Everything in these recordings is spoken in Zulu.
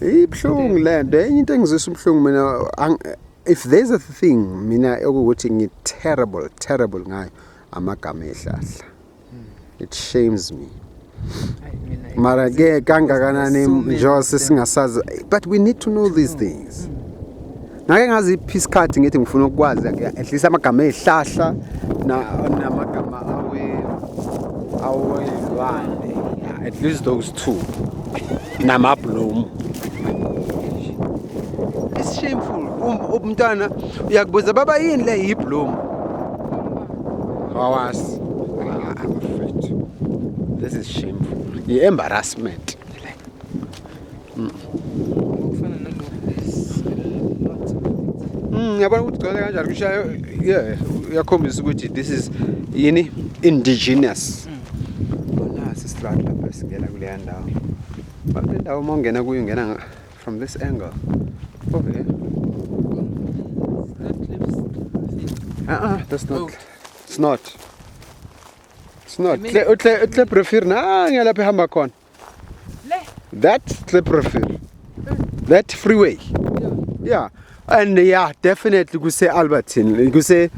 ibuhlungu le nto enye into engizwisa ubuhlungu mina if there's a thing mina okuwukuthi ngi-terrible terrible ngayo amagama ehlahla it shames me mara ke kangakanani njengoba sesingasazi but we need to know these things ngake ngaziphi isikhathi ngithi ngifuna ukwazi at least amagama ezihlahla namagama awe awezilwane at least those two namabloom it's shameful um, umntwana uyakubuza baba yini le yibloom awazi This is shameful. Embarrassment. Mm. Mm, yabona ukuthi gcwele kanjani kushayo yeah uyakhombisa ukuthi this is yini indigenous bona sisitrat lapha singena kuleya ndawo but le ndawo uma ungena kuyo ungena from this angle over here uh-uh, that's not it's not it's not uhle uhle brefir na ngiyalapha ehamba khona That slippery field. That freeway. Yeah. And yeah, definitely kuse Albertine. Kuse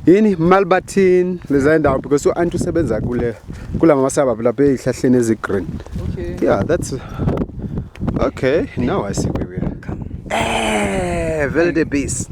yini Malbertine leza ndawo because u anti usebenza kule kula mama suburb lapha ezihlahleni ezi green. Okay. Yeah, that's Okay, now I see where we are. Come. Eh, Velde Beast.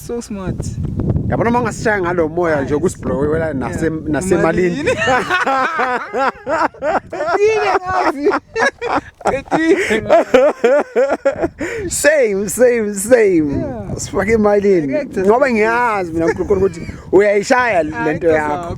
so smart yabona uma ungasishaya ngalo moya nje ukusiblokwela nasemalini same same same sifake emalini ngoba ngiyazi mina uNkulunkulu ukuthi uyayishaya lento yakho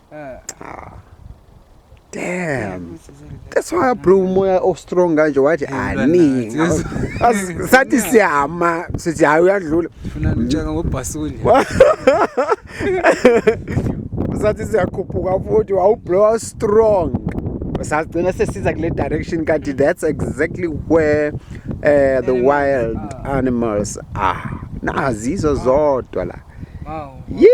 Eh. Ah. Damn. That's why bro umoya o strong kanje wathi ani. Sathi siyama sithi hayi uyadlula. Funa ngitshaka ngobhasuli. Sathi siyakhuphuka futhi wawublow strong. Sagcina sesiza kule direction kanti that's exactly where uh, the wild ah. animals are. Nazizo zodwa la. Wow. Yeah.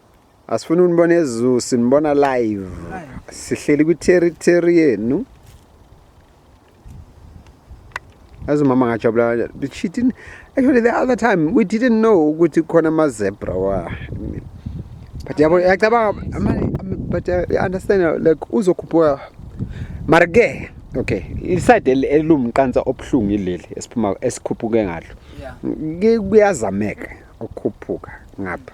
Asifuna unibona ezulu sinibona live. Sihleli kwi territory yenu. As umama ngajabula the cheating actually the other time we didn't know ukuthi khona ama zebra wa but yabo yacabanga but uh, I understand like uzokhuphuka mara ke okay iside elumqansa obuhlungu ileli esiphuma esikhuphuke ngalo kuyazameka ukukhuphuka ngapha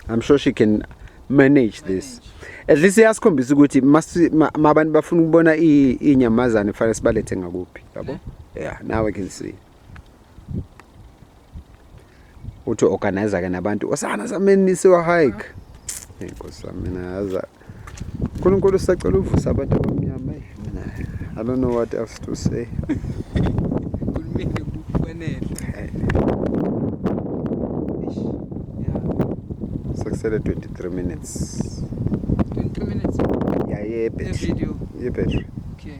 I'm sure she can manage this at least iyasikhombisa ukuthi abantu bafuna ukubona inyamazane fanele sibalethe ngakuphi yabo yeah now i can see uthi organizer ke nabantu osana sameni siwa hike inkosi mina yaza uNkulunkulu usacela uvusa abantu abamnyama eh, mina I don't know what else to say sekusele 23 minutes 23 minutes yeah yeah battery yeah battery okay